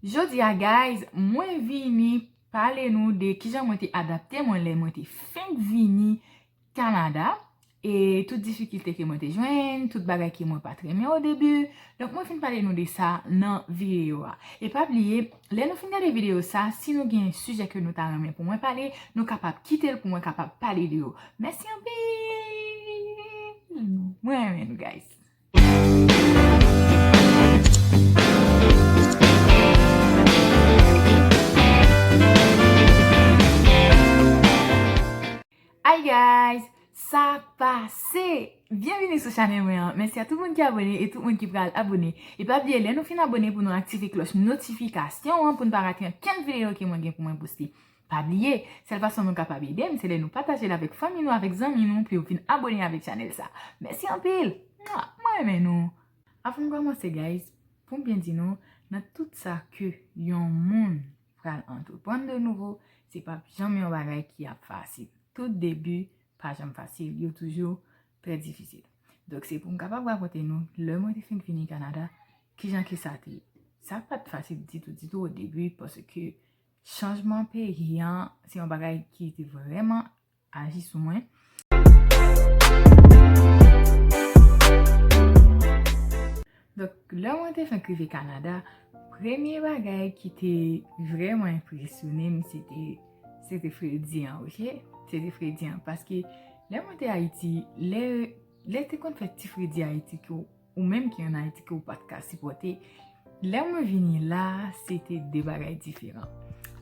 Jodia guys mwen vini pale nou de kijan mwen te adapte mwen lè mwen te fenk vini Canada e tout difikilte ke mwen te jwenn, tout bagay ke mwen pat renmen o debu, donk mwen finn pale nou de sa nan video a. E pa bliye lè nou finn gade video sa si nou gen sijè ke nou ta renmen pou mwen pale nou kapab kitel pou mwen kapab pale de yo. Mèsi anpil! Mwen renmen nou guys. Hi guys! Sa pase! Byenvini sou chanèl mwen an. Mèsi a tout moun ki abone e tout moun ki pral abone. E pa bliye lè nou fin abone pou nou aktive kloch notifikasyon an pou n pa rate ankenn videyo ke mwen gen pou mwen poste. Pa bliye, sèl fason nou kapab ede m se lè nou pataje l avèk fanmi nou avèk zanmi nou pou yo vin abone avèk chanèl sa. Mèsi anpil! Mwa! Mwen renmen nou! Avan m kòmanse guys, pou m byen di nou, nan tout sa ke yon moun pral antreprann de nouvo, se p ap janm yon bagay ki ap fasil. Tout debi pa janm fasil, yo toujou trè difisil. Donk se pou m kapab rakonte nou, lè mwen te fin vini Kanada, kijan ke sa te ye. Sa pa t fasil ditou ditou o debi paske Chanjman peyi an se yon bagay ki te vreman aji sou mwen. Donk, lè mwen te fenk rive Kanada, premye bagay ki te vreman enpresyone m, se te, se te fredi an, ok? Se te fredi an, paske lè mwen te Ayiti, lè, lè te konn fè ti fredi Ayiti ke w. Ou menm ki an Ayiti ke ou pat ka sipòte, lè mwen vini la, se te de bagay diferan.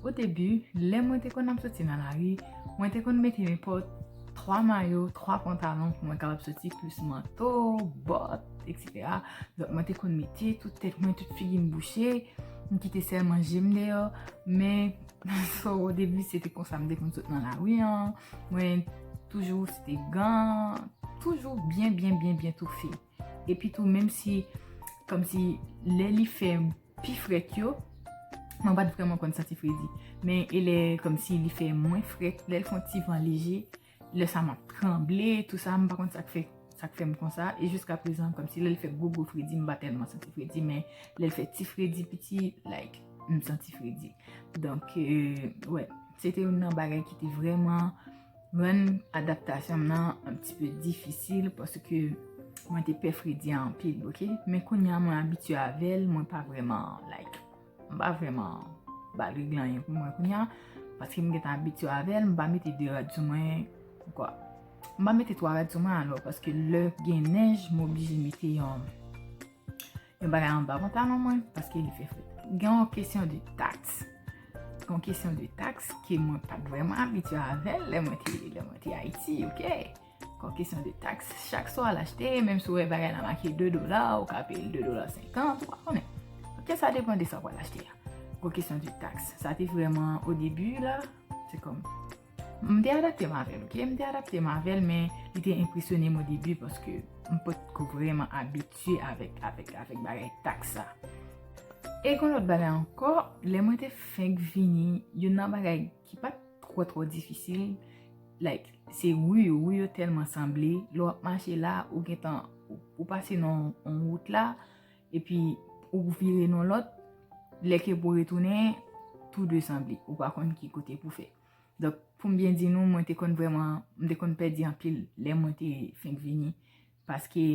O debi, lè mwen te konn ap soti nan lari, mwen te konn mete nenpòt 3 mayo, 3 pantalon pou mwen kapab soti plis manto, bòt, etc. Donk mwen te konn mete tout tèt mwen, tout figi m bouche, m kite sèlman je m deyò. Men, o debi, se te konsa m te konn sot nan lari an. Mwen toujou sete gan, toujou byen byen byen byen toufe. Epi tou menm si, kom si lè li fè pi frèt yo, mwen bat vreman konn santi fredi. Men e lè kom si li fè mwen frèt, lè l fon ti van leje, lè sa map tranble, tou sa mwen pa konn sak fè, sak fè m konsa. E jiska prezan kom si lè l fè gwo gwo fredi, mwen pa telman santi fredi. Men lè l fè ti fredi piti, like, mwen santi fredi. Donk, wè. Se te youn nan bagay ki te vreman rann adaptasyon m nan an pti pe difisil paske mwen te pè fredi a anpil, ok. Men kounye a mwen abitye avè l, mwen pa vreman like, m pa vreman ba l regle anyen pou mwen kounye a paske m gentan abitye avè l, m pa mete 2 rad sou mwen, oubyen m pa mete 3 rad sou mwen alò paske lè gen nèj m oblije mete yon. Yon bagay an ba pantalon mwen paske li fè fret. Gen yon kesyon de taks. Yon kesyon de taks ke mwen pat vreman abitye avèl lè mwen te Ayiti, ok? Yon kesyon de taks. Chak swa al achte, menm si ou wè bagay la make 2 dola, ou ka peye 2 dola 50, ou pa konnen. Ok, sa depan de sa ou al achte a. Yon kesyon de taks. Sa te vreman o debi la, se kom. M te adapte m avèl ok, m te adapte m avèl men li te enpresyonem o debi paske m pat ko vreman abitye avèk bagay tak sa. E gon lòt bagay ankò, lè mwen te fenk vini, youn nan bagay ki pat twò twò difisil, like se ru yo, ru yo tèlman sanble, lè w ap mache la ou gentan ou pase nan yon wout la, Epi ou vire nan lòt, lè ke pou retounen, tou de sanble. Ou pa konn ki kote pou fè. Donk, poum byen di nou, mwen te konn vreman, mwen te konn pèdi anpil lè mwen te fenk vini. Paske,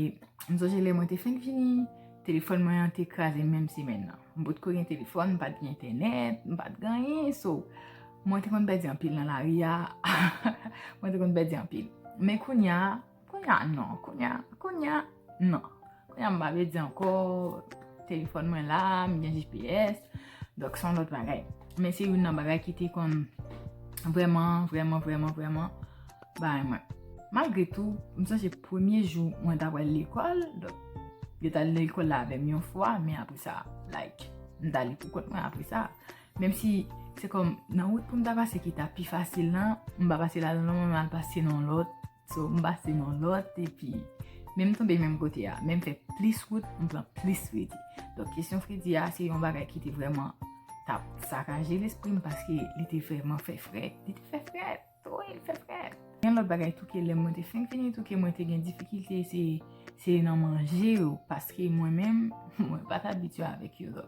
m sonje lè mwen te fenk vini, telefòn mwen an te kraze menm semèn nan. M pot ko gen telefòn, m pat gen entènèt, m pat gen anyen. So, mwen te konn pèdi anpil nan lari a. Mwen te konn pèdi anpil. Men kounya. Kounya non, kounya, kounya non. Kounya m pa vle di anko, telefon mwen la, m gen GPS, dok son lot bagay. Men se yon nan bagay ki te kon vreman, vreman, vreman, vreman bay mwen. Malgre tou, m san se premye jou mwen ta wèl lekol, dok yo ta lekol la avèm yon fwa, men apre sa, like, m ta li pou kont mwen apre sa. Menm si, se kon nan wout pou m ta pase ki ta pi fasil nan, m pa pase la nan, m al pase nan lot. So m pase nan lòt epi menm tonbe menm kote a, menm fè plis wout m pran plis fredi. Donk kesyon fredi a se yon bagay ki te vreman tap sakaje lespri m paske li te vreman fè frèt. Li te fè frèt, wi li fè frèt. Yon lòt bagay tou ke lè mwen te fenk vini tou ke mwen te gen difikilte se nan manje yo paske mwen menm mwen pat abitye avèk yo.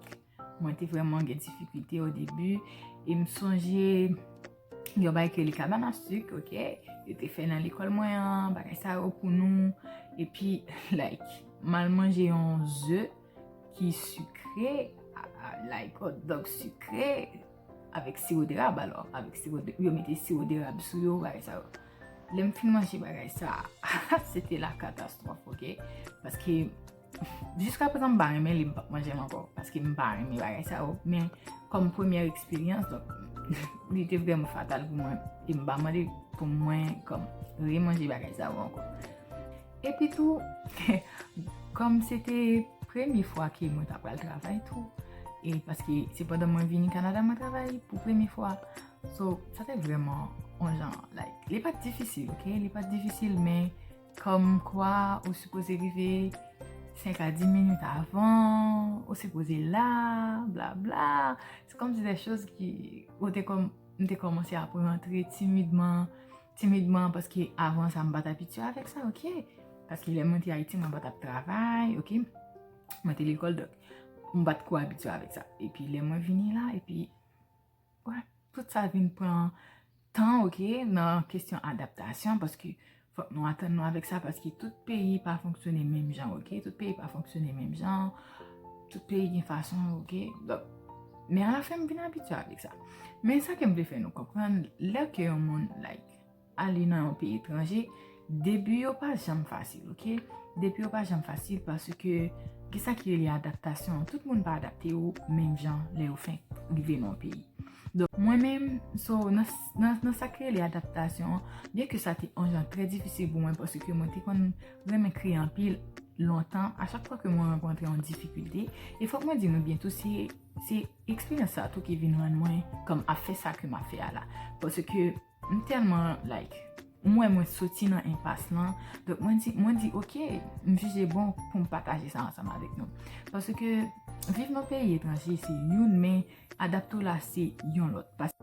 Mwen te vreman gen difikilte o debu. E m sonje yon bay ke li kaban nan suk, ok? Yo te fè nan lekol mwen an, bagay sa yo pou nou. E pi, like, mal manje yon ze ki sukre, like, hot dog sukre, avèk siwo de rab alò. Avèk siwo de, yo mete siwo de rab sou yo, bagay sa yo. Lè m fin manje bagay sa, se te la katastrof, ok? Paske... Jiska prezan m pa renmen li m pap manje l ankò paske m pa renmen bagay sa yo men kòm premyè eksperyans donk li te vrèman fatal pou mwen e m pa mande pou mwen kòm remanje bagay sa yo ankò epi tou kòm se te premye fwa ke mwen ta pral travay tou e paske se pandan mwen vini Kanada mwen travay pou premye fwa so sa te vrèman yon jan like li pat difisil ok li pat difisil men Kòm kwa ou sipoze rive 5 a 10 minit avan, ou sipoze la, bla bla. Se kòm si de chòz ki ou te kòm, m te kòmanse ap rantre timidman, timidman paske avan sa m pa t abitye avèk sa, ok. Paske lè mwen te Ayiti mwen pa t ap travay, ok. Mwen te lekòl dòk m pa t ko abitye avèk sa. Epi lè mwen vini la, epi. Tout sa vin pran tan ok nan kesyon adaptasyon paske fòk nou atann nou avèk sa paske tout peyi pa fonksyone menm jan ok. Tout peyi pa fonksyone menm jan. Tout peyi gen fason yo ok. Men a la fen m vin abitye avèk sa. Men sa ke m vle fè nou konprann lè ke yon moun like. Ale nan yon peyi etranje, debi yo pa janm fasil ok, debi yo pa janm fasil paske gen sa ki rele adaptasyon, tout moun pa adapte yo menm jan lè yo fenk rive nan yon peyi. Donk mwen menm, so nan sa ki rele adaptasyon, byen ke sa te yon jan trè difisil pou mwen paske mwen te konn renmen kriye anpil lontan, a chak fwa ke mwen rankontre yon difikilte, e fòk mwen di nou byen tou se eksperyans sa tou ki vin rann mwen kòm ap fè sa ke map fè a la, paske. M telman like m wè mwen soti nan enpas lan donk mwen di mwen di ok m jije bon poum pataje sa ansanm avèk nou paske viv nan peyi etranje se youn men adapte w la se yon lòt paske.